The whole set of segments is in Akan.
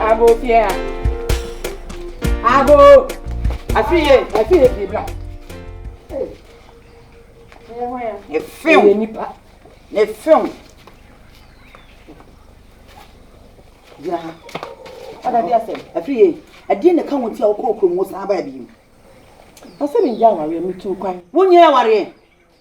Abo fie a. Abo. Afie. Afie fie bla. Ne film. Ne nipa. Ne film. Ya. Ada bi asem. Afie. Adie ne ka won ti a wokɔ okromo saa ba bi. Asem nja aware mi tu kwan. Wonye aware.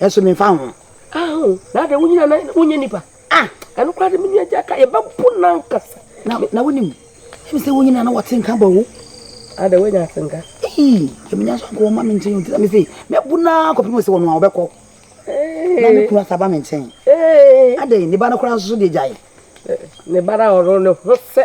Nanso memfa ho. Aho, na adɛn, wonyini anaa? Na wonyɛ nipa? Ah, ɛno koraa de, me nua Gyaka, yɛbɛpo no ankasa. Na, na wonim, ɛfiri sɛ wonyini anaa wɔte nka bɔ wo. Adɛn, woanya ate nka? Ii, sɛ menya nso anka wɔmma me nkyɛn, nti na me se, mɛpo no ara kɔpem sɛ ɔno a ɔbɛkɔ. Ee. Na ne kunu asa ba me nkyɛn. Ee. Adɛn, ne ba no koraa nso so deɛ gyae. Ne ba no a ɔno ne ho sɛ.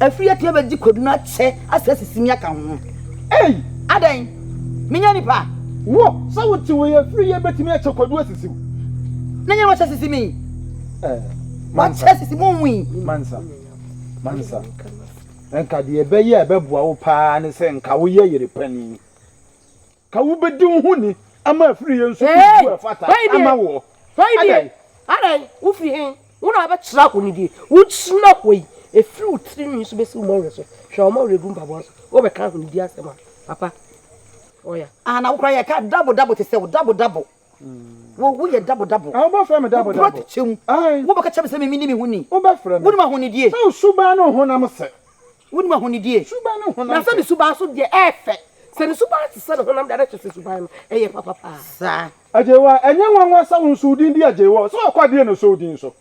Afiri atua bɛgye kwadu no akyɛ ase asisi me aka ho. Ei! Adɛn? Menyɛ nipa a. Wo, sɛ wote wei afiri yi bɛtumi akyɛ kwadu asisi wo. Ne nyɛ na wakyɛ asisi me. Eh, Wakyɛ asisi mo nwi. Mansa, Mansa, nka deɛ ɛbɛyɛ a ɛbɛboa wo paa ne sɛ nka woyɛ yere panin. Ka wobɛdi wo ho ni ama afiri yɛ nso wo gu ɛfata ama woɔ. Adɛn? Adɛn? Wo firi he? Wo na wobɛkyerɛ ahonidie. Wo gyina hɔ yi, ɛfiri wo tiri nwi so bɛsi wo mmɔwerɛ so, hwɛ wɔn a wɔregu mpaboa so, wobɛka ahonidie asɛm a, papa. Ɔya. Ana wo koraa yɛka dabo dabo te sɛ wo, dabo dabo. Wo yɛ dabo dabo. Wo bɛ frɛ me dabo dabo. Wo kura kyɛm. Wo bɛ ka kyɛ me sɛ me me ni me ho ni. Wo bɛ frɛ me. Wo nim ahonidie. Sɛ wo suban ne wo honam sɛ. Wo nim ahonidie. Suban ne wo honam sɛ. Na sɛ ne suban so deɛ ɛyɛ fɛ. Sɛ ne suban te sɛ ne honam deɛ na kyerɛ sɛ suban no ɛyɛ papa paa. Saa. Agyewɔ a ɛnyɛ nwanwa sɛ wo nso wo din di Agyewɔ. Sɛ ɔkɔ adie na ɔsɔ wo din so.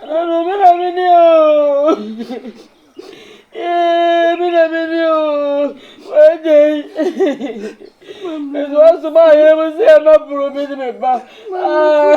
Ɛna no me na me ni oo ee me na me ni oo wɛgye ɛdi wa so maa yɛrɛ mu sɛ ɛma buru mi ni mi ba aa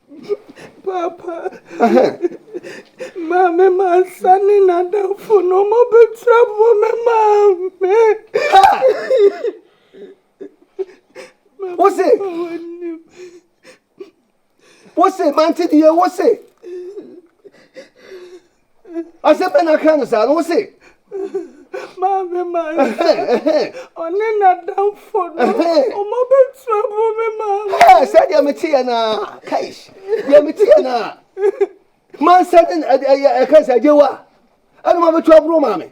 Paapa, ma me mansa ne n'adamfo no wɔbɛtra bɔ me maa me. Wose, wose, mante deɛ wose. Asɛm bɛn na aka no saa no? Wo se? Maame Mansɛ, ɔne n'adamfo no, wɔabɛtu abo me maame. Hɛ, sɛ deɛ mete yɛ no a, kaish, deɛ mete yɛ no a. Mansɛ ne ɛka sɛ, agyewa, ɛna wɔabɛtu aboro maame.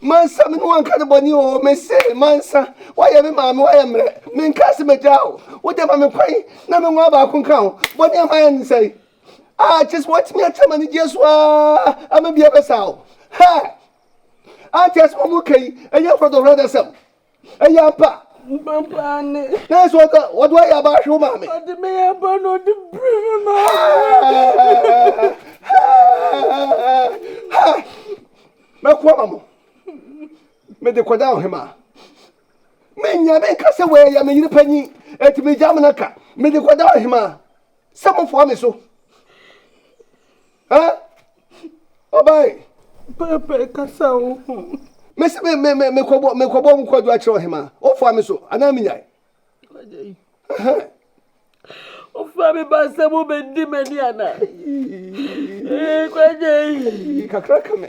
Mansa, me ne wo anka ne bɔne o, mese mansa, woayɛ me maame, woayɛ mmerɛ, menkaa se magyaa o, wode ma me kwan na me nwa baako nka ho, bɔne a mayɛ ne sɛe, a kyɛ sɛ woatumi akyɛ ma ne gyeɛ so aa, ama bia bɛsa o, hɛ, ante asɛm a moka yi, ɛnyɛ nkɔtɔhorɔ adasɛm. Ɛyɛ ampa? Ampa paa ne. Hwɛ sɛ ɔdɔ ɔdɔ ayɛ aba ahwe wo maame. Ɔde me yɛ aba na ɔde biri me maame. Mɛko ama mo. Mede kɔda ɔhemaa. Menya menka sɛ wei yɛ me yere panyin enti megya amena ka. Mede kɔda ɔhemaa sɛ mofoa me so. Ɛ ɔbae. Pɛɛpɛɛ kasa o ho. Me se me me me me kɔbɔ me kɔbɔ mu kɔdwo akyerɛ ɔhemaa. Ofoa me so anaa me nyae. Wagyae. Ɛhɛn. Ofoa me ba sɛ mo bɛ di m'ani anaa. Ee kwagyae. Kakra ka me.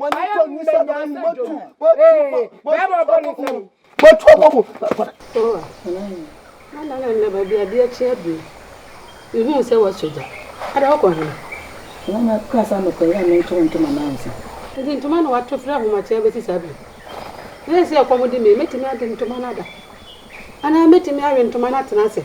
Ayɛ mu bɛ nya sɛ dwom. Ee, bɛɛ bɔ bɔ ne nsam. Bɛtu abɔ mu. Ana na nna baabi adeɛ akye abiri. Mehuu sɛ woasɔ gya. Ada wokɔ hena? Ɛna na kura saa mekɔɛ yɛ a mentoo ntoma no ansa. Nti ntoma na wato firi ahomakyea bɛsi saa biri. Seesei ɛkɔm de me, mɛtumi ade ntoma no ada? Anaa mɛtumi awe ntoma no atena ase?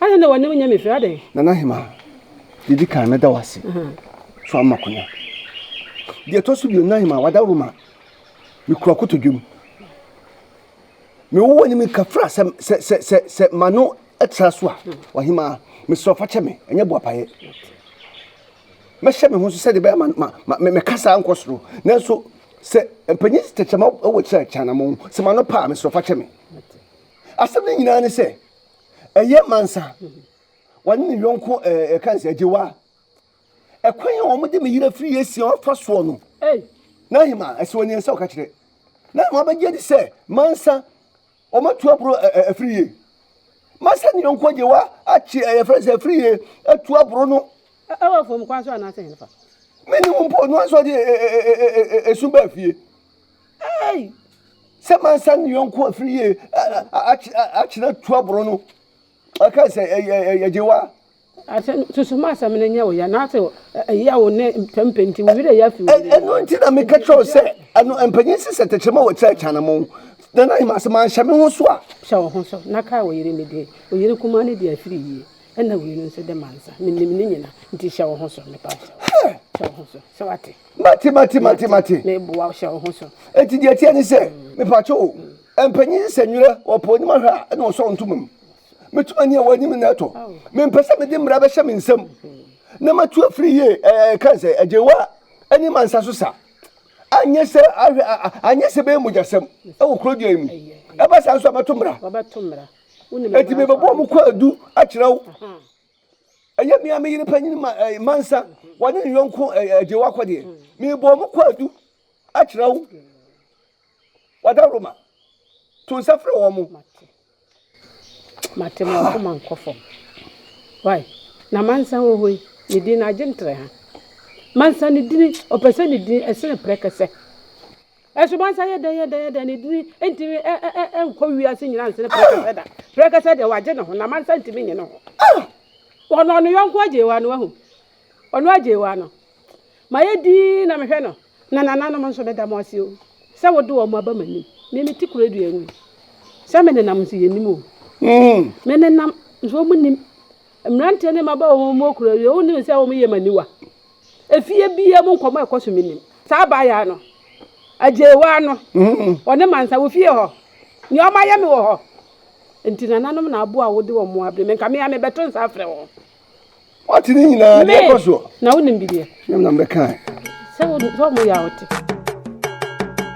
Adɛn na w'anim nyɛ me hwee adɛn? Nana Hema, deɛ ɛdi kan mɛda wo ase sɛ woamma kwan. Deɛ ɛtɔ so bio Nana Hema, w'adaworo ma mekura kotodwam. Mewo w'anim nka fra sɛ sɛ sɛ sɛ sɛ m'ano tra so a w'ahema mesrɛ fa kyɛ me ɛnyɛ boapayɛ. Mɛhyɛ me ho so sɛdeɛ ɛbɛyɛ ma ma me mekasa nkɔ soro nanso sɛ mpanyin tɛkyɛma wɔ kyerɛ kyanamɔn sɛ m'ano pa a mesrɛ fa kyɛ me. Asɛm no nyinaa ne sɛ Ɛyɛ mansa. Wɔne ne yɔnko ɛɛ ɛka nsɛ agyewa. Ɛkwan a wɔn de me yere afiri esia ɔfa soɔ no. N'ahema ɛsɛ wɔn nsa ɔka kyerɛ. N'ahema bɛgye di sɛ mansa wɔn atu aburo afiri yie. Mansa ne yɔnko agyewa akye ɛyɛ fɛn sɛ afiri yie atu aburo no. Ɛwɔ fam kwan so anaasɛ yɛn fa. Mene wɔn mpo no nso de esu bɛɛ fie. Ei! Sɛ mansa ne yɔnko afiri yie akyerɛ tuaboro no, ɔka sɛ yɛgye wa. Asɛm susu ma asɛm no nyɛ wo ya na ase ɛya wo ne mpɛmpɛ nti wo werɛ ya fi wo yere. Ɛno nti na meka kyerɛ wo sɛ ɛno mpanyin si sɛ tɛkyerɛma wɔ tiri akyanammɔn na na yɛma sɛ manhyɛ me ho so a. Hyɛ wo ho so na kae wo yere no din. Wo yere kumaa no de afiri yie ɛna wei no nso de mansa. Menim ne nyina nti hyɛ wo ho so mepa wo kyɛw. Hyɛ wo ho so sɛ wate. Mate, mate, mate, mate. Meboa wo, hyɛ wo ho so. Enti deɛ ɛteɛ ne sɛ, mepakyɛ o, mpanyin sesa nwira, wɔpɛ anim ahwɛ a, ɛna wɔsɔw ntoma mu. Meto ani a, wɔn anim na ɛtɔ. Mempɛ sɛ mede mmara bɛhyɛ me nsam na matu afiri yie, ɛɛ, ɛka sɛ, agyewa ani ma nsa so sa. Anyɛ sɛ, ahwɛ, a, anyɛ sɛ ɛbɛyɛ mogyasɛm wɔ kurodua yi mu. Ɛba saa nso a, mɛto mmara. Enti mebɛbɔ wɔn kwaadu akyerɛ wo. Ɛnyɛ me ara me yere panyin ma ɛɛ mansa wɔne ne yɔnko ɛɛ agye wakɔ deɛ. Mebɔ mo kwaadu akyerɛ wo. Wada Roma. To nsa frɛ wɔn mo. Mate. Mate mo akoma nkɔ fam. Wai. Na mansa wɔ hɔ yi ne din no agye ntere ha. Mansa ne dini ɔpɛ sɛ ne din ɛsene prɛkɛsɛ. Asubɔnsa yɛ dɛn yɛ dɛn yɛ dɛn, ne dini ntumi nkɔ wiase nyinaa nsene prɛkɛsɛ da. Prɛkɛsɛ deɛ wagye ne ho, na mansa ntumi nye ne ho. Ɔno ɔno yɔnko agyee wa no ahu. Ɔno agyee wa no. Ma yɛ dii na mehwɛ no. Na nananom nso meda mo ase o. Sɛ wode wɔn aba m'anim. Me me ti kura dua ngu. Sɛ me nenam nso yɛ nim o. Mm. Me nenam nso wɔn nim. Mmeranteɛ ne mmabaawa wɔn wɔn kura dua wɔn nim sɛ wɔn yɛ m'aniwa. Efie biaa mu nkɔmmɔ a ɛkɔ so mennim. Saa abaayaa no, agyeewaa no, ɔne mansa wɔ fie hɔ. Nea ɔma yɛ me wɔ hɔ. Enti nananom na aboa a wode wɔn mmoa abrɛ me. Nka me ara mebɛto nsa afrɛ wɔn. Ɔte ne nyinaa deɛ ɛkɔ soɔ. Me! Na wonim bi deɛ. Sɛ wɔyɛ a wote.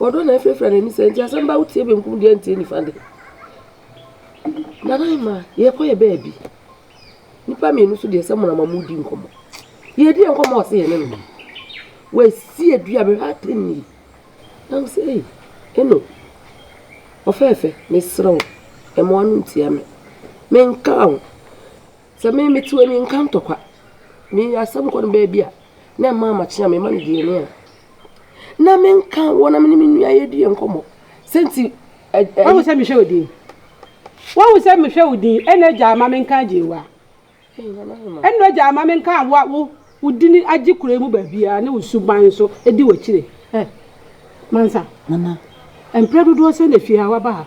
Ɔdɔ na afirafira n'ani sɛ, nti asɛm ba a wotie benkum de antie nifa de. Nanaima, yɛkɔ yɛ baabi. Nnipa mmienu so deɛ sɛ mo na ma modi nkɔmmɔ. Yɛdi yɛn nkɔmmɔ ɔse yɛne no. Wasi adua bɛhwɛ atɛn ni. Na wo sɛ, ei, ɛno, ɔfɛɛfɛ, mesrɛ wo, mmoa no ntia me. Menka wo. Sɛ me mete hɔ a, menka ntɔkwa. Me asɛm kɔ no baabi a, na ɛmma amakye a mema no deɛ ni a, na menka wɔn a me ne me nua yɛdi yɛn nkɔmmɔ. Sɛ nti ɛ ɛ. Wahu sɛ mehwɛ wo din. Wahu sɛ mehwɛ wo din. Ɛnna agya ama menka agye wo a. Ɛnna agya ama menka wo a wo wo din agye kuro yi mu baabiara ne wo suban nso di w'akyire. Ɛ Mansa. Nana. Mprɛ dodoɔ sɛn na efie ha woaba ha?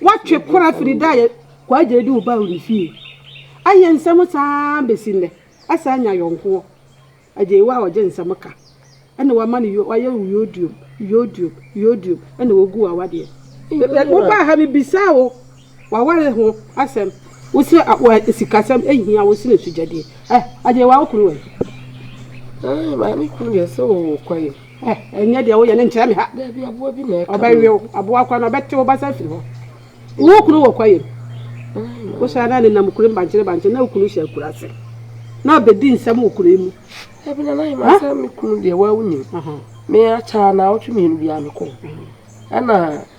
Wɔatwe kora firi da a Kwagye de wo baa wo ne fie. Ayɛ nsɛm saa ara bɛsi nnɛ. Asan anya yɔnkoɔ. Agyei wo a ɔgye nsɛm ka. Ɛna wama no yo, wayɛ wo yodium, yodium, yodium, ɛna wagu wo awadeɛ. Wobaa ha mebisaa wo w'aware ho asɛm, wose sikasɛm hia wo sene sogyadeɛ. Agyei wo a wo kunu wɔ he? Maame kunu deɛ sɛ ɔwɔ kwaeɛm. Eh, nyɛ deɛ woyɛ no nkyerɛ me ha. Baabi aboa bi na ɛka Ɔbɛwe wo, aboa kora no, ɔbɛte wo basa afiri hɔ. Wo kunu wɔ kwaeɛm. Wohyɛ na ne nam kuro mu bankyere bankyere na wo kunu hyɛ akura ase. Na ɔbɛdi nsɛm wɔ kuro yi mu. Dabi na nayi ma sɛ me kunu deɛ waa wonim. Me akyɛ a naawɔtwe mmienu biara mekɔ. Ɛna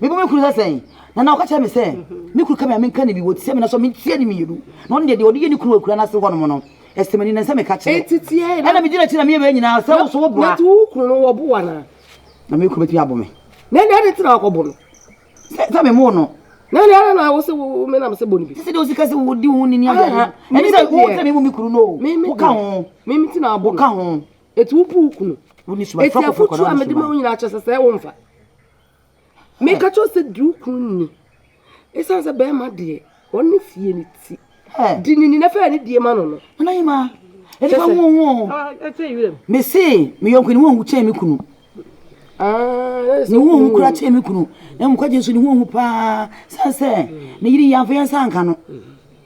Mebɔ me kunu sɛ sɛn? Nana ɔka kyerɛ me sɛ me kunu ka me a menka ne bi wɔ sɛ me na so mentia ne mmienu na ɔno deɛ deɛ ɔde yɛ ne kunu wɔ akura no ase hɔnom no ɛsɛ m'ani na sɛ meka kyerɛ ɛna megyina akyi na meyɛ wei nyinaa sɛ wo so wo boa na me kunu bɛtumi abo me na ɛna ɛde tena ɔkɔbo no sɛ me mo no na ɛna ɛna na wo sɛ wo me nam sɛ bɔ no bi sɛ deɛ ɔsi ka sɛ wodi wo ne ni adeɛ ɛne sɛ wo tena me mu me kunu no wo ka ho wo ka ho Eti wo bu wo kunu. Wo ni suban. Eti afotu a mede ma wo nyinaa kyɛ sɛ sɛ wo mfa. Meka kyerɛ sɛ di wo kunu ni. Esiane sɛ bɛrima deɛ wɔn ne fie ne ti. Di ne ni na fɛ ne die ma no no. Nana yi ma. Ɛdi fa mu ho. Me se me yɔnko ni wɔn kyɛn me kunu. Ah, ne ho hu kura kyɛn me kunu. Na mu kwa gye nso ne ho hu paa. San sɛ ne yiri yɛn afɔ yɛn nsa nka no.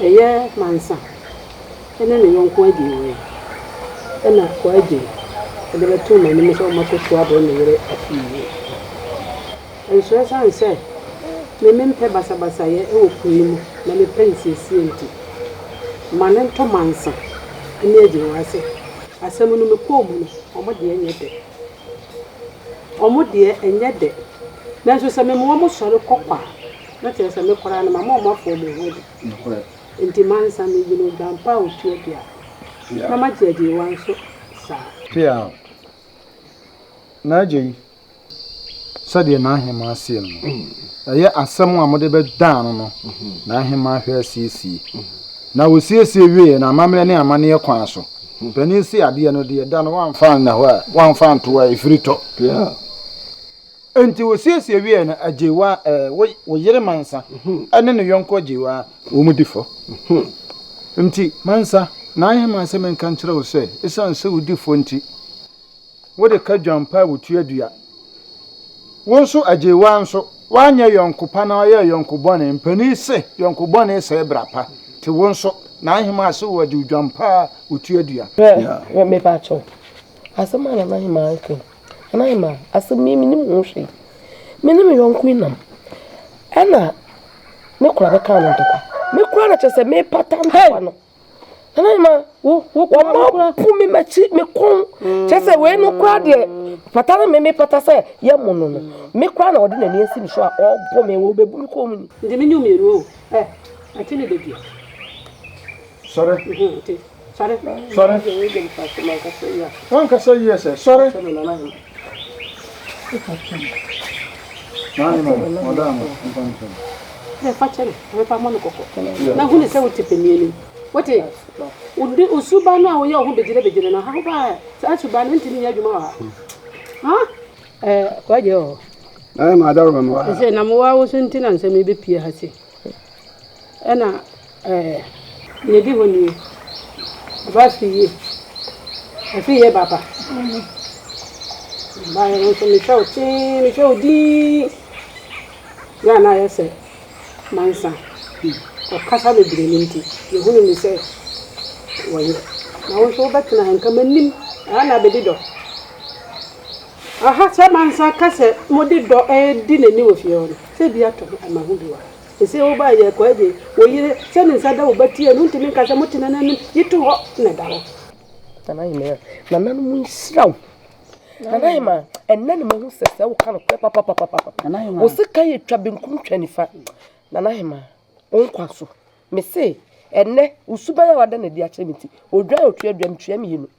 Ɛyɛ Mansa ne ne yɔnko Adjei wɔ he? na Kɔ Adjei de bɛtoo m'anim sɛ ɔmmɛkɔto abrɛ ne yere afie yi. Nso ɛsiane sɛ me mempɛ basabasayɛ wɔ kuro yi mu na mepɛ nsiesie nti, ma no ntɔ Mansa ne Adjei w'ase. Asɛm no mekɔɔ mu no, wɔn deɛ nyɛ dɛ. Wɔn deɛ nyɛ dɛ. Nanso sɛ mema wɔn sɔre kɔ kwa na kyerɛ sɛ me koraa no, mama wɔafow me ho adi. Enti mansa no, eyi ne odwampa a otu abira, na magye agyeyiwa nso saa. Peaw. N'agya yi, sɛdeɛ n'ahemaa seɛ no no, ɛyɛ asɛm a mode bɛdaa no no na ahemaa hwɛ asiesie. Na wɔsiesie wieeɛ no, amammerɛ ne amanneɛ kwan so, panin se adeɛ no deɛ da no wamfa anna hɔ a, wamfa anto a, ɛfiri tɔ. Peaw. Enti wosiesie wiei no, Agyeewaa, ɛɛ, wo, wo yere Mansa ne ne yɔnko Agyeewaa, wɔn di fɔ. Enti, Mansa, maayɛ m'asɛm nka nkyerɛ wo sɛ, esiane sɛ wudi fɔ nti, wode ka dwampa a wotua dua. Wo nso, Agyeewaa nso, woanyɛ yɔnko pa na woayɛ yɔnko bɔne. Mpanin se, yɔnko bɔne sɛe bra pa. Enti wo nso, n'ahemaa se wɔagye wo dwampa a wotua dua. Hwɛ, me, mepa kyɛw, asɛm a na n'ahemaa reka yi, Hɛn ayɛ ma asɛm yi mennyim ho hwee. Me nye me nyɛnko yi nam, nna me kora bɛkaa no ntɔkwa. Me kora no kyerɛ sɛ mepata ntɔkwa no. Hɛn ayɛ ma wɔabu me m'akyi, me kɔn. Kyerɛ sɛ wei no kora deɛ pata no me mepata sɛ yɛmo no no, me kora na ɔde n'ani asi me so a ɔɔbɔ me, ɔɔbɛbu me kɔn mu ni. Nti menye wo mmienu o. Ɛ, ate ne da bi a. Sɔre. Ɔte. Sɔre. Sɔre. Wankasa yie sɛ sɔre. Nine mo, ɔda mo, mpa mo sɛ. Ẹ fa kyẹrẹ, ẹ fa mọ no kọkọ. Na hu ne sẹ o te panyin ni. Wote? Wode wo suban no a woyɛ wo ho begyere begyere no ha ho baa saa suban no ntumi nyɛ adwuma wɔ ha. Ha? Ẹ kɔgye o. Ẹ ma adaro mɛ mo ha. Sɛ na mo wa wo so nti na nsɛm yi bɛpie ha sei. Ɛna ɛɛ nea edi hɔ nie, ɔbaa fii yie, ɔfii yie ba ba, ɔbaeɛ no nso mehwɛ wo tee, mehwɛ wo dinn, na na ayɛ sɛ mansa, ɔkasa bebree no nti, mehunuu no sɛ wɔyɛ, na wo nso wobɛtena ha, nka m'anim, ɛha na abɛdi dɔ. Aha sɛ mansa ka sɛ mode dɔ redi n'ani wɔ fie hɔ no. Sɛ bi ato ho ɛma ho bi wa. Sesei wo ba yɛ kwaa de, wo yere, sɛ ne nsa da wo ba ti a, ɛno ntumi nka sɛ mote nananom, yi to hɔ na ɛda hɔ. Nana Yemaya, Nananom nhyira wo. Nana Yemaya, Ɛnnɛ na mahu sɛ sɛ woka nokorɛ papapapapa. Wo sekan yɛ twa benkum twa nifa. Nana Yemaya, Wo nkwa so. Mese, Ɛnnɛ, wo suban a woada no adi akyerɛ me nti, odwan a otua aduan no tua mmienu.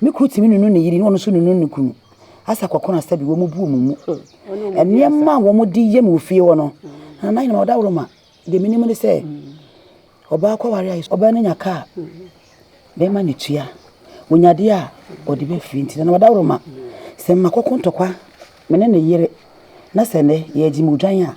Me kunu tumi nunu ne yere na ɔno nso nunu ne kunu. Asa kɔkɔn asa bi wɔn bu wɔn mu. Nneɛma a wɔde yɛ mu wɔ fie hɔ no, na nan nyinaa ɔda woro ma. Deɛ menim ne sɛ ɔbaa kɔware a ɔbaa no nya kaa bɛrima ne tua. Ɔnyadeɛ a ɔde bɛfiri nti na ɔda woro ma. Sɛ mma kɔkɔ ntɔkwa me ne ne yere na sɛ nnɛ yɛgye mu dwan a,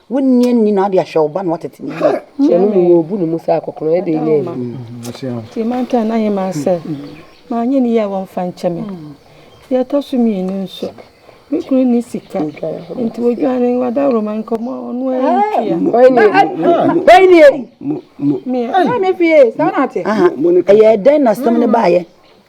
Wo nua nni na ade ahwɛ wo ba na watete ne yie. Kyɛ no mu wɔbu ne mu sɛ akɔkorɔ ɛde ɛnyɛ ɛno. Nti manka n'ahemmaa sɛ, Manyɛ no yie a wɔmfa nkyɛ me. Deɛ ɛtɔ so mmienu nso, me kunu nni sika, nti ɔdwane w'adaworoma nkɔmmɔ a ɔno ara ntua. Ɛyɛɛ dɛn na asɛm no baeɛ?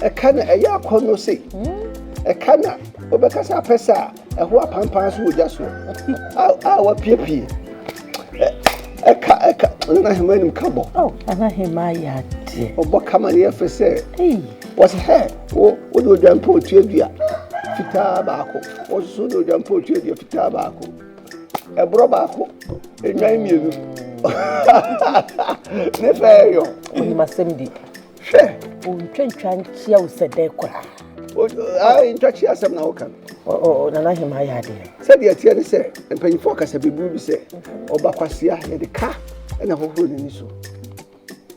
Ɛka na ɛyɛ akɔnnɔ sei. Ɛka na wobɛkasa apɛsɛ a ɛho apampan so wɔ gya so a wapiepie. Ɛka ɛka nana hema anim ka bɔ. Oh, nana hema ayɛ adeɛ. Ɔbɔ kama ne yɛ fɛ sɛ. Wɔsi hɛ wo wo de odwa mpo otua dua fitaa baako. Wɔsoso de odwa mpo otua dua fitaa baako. ɛborɔ baako nnwan mmienu ne fɛ yɔ. onim asɛm di. hwɛ. ontwantwa nkyia wo sɛ dɛn koraa. ntwakye asɛm na woka no. nana hema ayɛ adeɛ. sɛdeɛ ɛteɛ ne sɛ mpanyinfoɔ kasa beburu bi sɛ ɔbakwasea yɛde ka na hohoro n'ani so.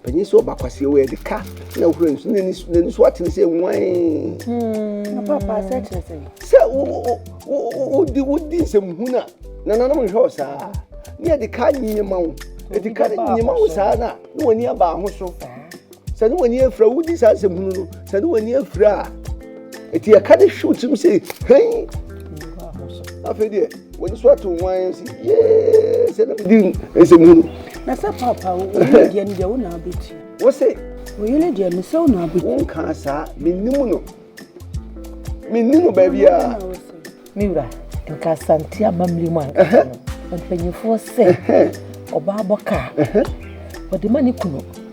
Panyin sɛ ɔba kwasi wɔ yɛde ka na ɔhura nsu na n'ani n'ani so atene sɛ nwan. Hmm. Papa sɛ kyerɛ sɛ. Sɛ wo wo wo wo di wo di nsɛm hu na nananom nhwɛ ɔsaa ne yɛde ka nyinyi ma wo yɛde ka ne nyinyi ma wo saa na ne wɔn ani aba ho so sɛ ne wɔn ani afira wo di saa nsɛm hu no sɛ ne wɔn ani afira a eti yɛka de hwiw tirim sɛ hɛn afei deɛ. wɔde so ato ho ayɛ sɛ yee sɛ na medi nsɛm hunu na sɛ papa wo yere deɛ no deɛ wo na abɛtua wo se wo yere deɛ no sɛ wo na abɛtua wonkaa saa mennim no menni no baabi a me wura nka asante amammerɛ mu anka no mpanyimfoɔ sɛ ɔbaa bɔ kaa wɔde ma ne kunu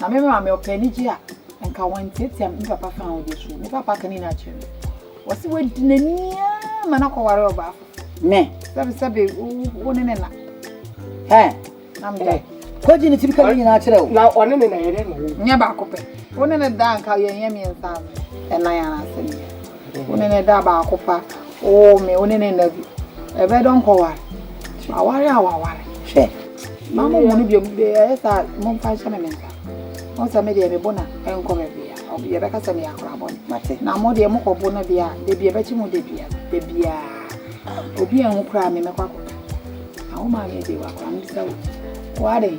Na me maame ɔpɛ anigye a, anka wantiatia me papa fa ahodeɛ so. Me papa ka ne nyinaa kyerɛ me. Wɔse wadi n'ani ara ma no akɔware ɔbaa foforɔ. Me. Sɛbe sɛbe wo ne ne na. Hɛ. Na me da. Kɔgye ne tiri ka ne nyinaa kyerɛ wo. Na ɔne ne na yɛdɛ na wo. Nyɛ baako pɛ. Wo ne ne da anka yɛnyɛ mmiɛnsa ɛnan anaasɛ mmienu. Wo ne no da baako pa, oo me, wo ne no nna bi. Ɛbɛdɔ nkɔware, aware a waware. Hwɛ, mma mo mmu no bio, ɛyɛ saa a, momfa nhyɛ me me nsa. Mohu sɛ me deɛ, mebo no a, ɛnkɔ baabiara, yɛbɛka sɛ meyɛ akora bɔne. Na mo deɛ, mokɔbo no deɛ a, da bi ɛbɛkye mo da biara, da biara. Obi anhu koraa a, me mɛkɔ akɔka. Na wo maame deɛ, wakora, mebisa wo, wo ara dɛn?